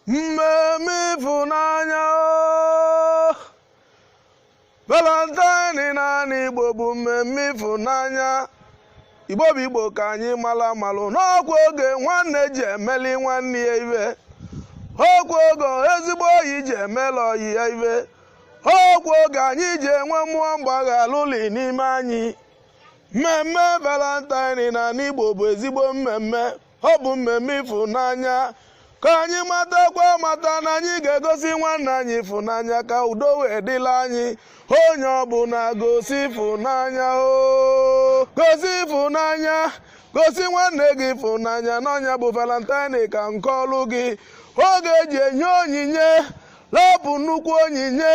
mmemme ịfụnanya o. valentine n'anị igbo bụ mmemme ịfụnanya igbo bụ igbo ka anyị mara malụ n'ọkwa oge nwanne ji emeli nwanne ya ife ọkwa oge ezigbo ọyị ji emela ọyị ya ife ọkwa oge anyị ji enwe mmụọ mgbaghalụli n'ime anyị mmemme valentine n'anị igbo bụ ezigbo mmemme ọ bụ mmemme ịfụnanya ka anyị matakwa mata na anyị ga-egosi nwanne anyị ịfụnanya ka udo wee dịla anyị onye ọbụla gosi ịfụnanya o gosi ịfụnanya gosi nwanne gị ịfụnanya n'ọ nya bụ valentine ka nke ọlụ gị oge eji enye onyinye lapụ nnukwu onyinye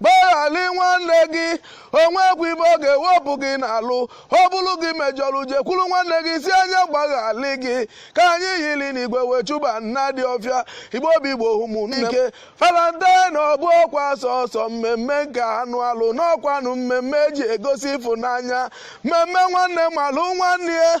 gbaghalị nwanne gị o nwekwa ife ọ ga-ewepụ gị n'alụ ọ bụlụ gị mejọlọ jekwulu nwanne gị sị a nya gbaghalị gị ka anyị yiri n'igwe wee chụba nnadi ọfịa igbo bụ igbo ụmụnne valentine ọ bụrọkwa sọsọ mmemme nke anụ alụ n'ọkwanụ mmemme eji egosi ịfụnanya mmemme nwanne malụ nwanne ya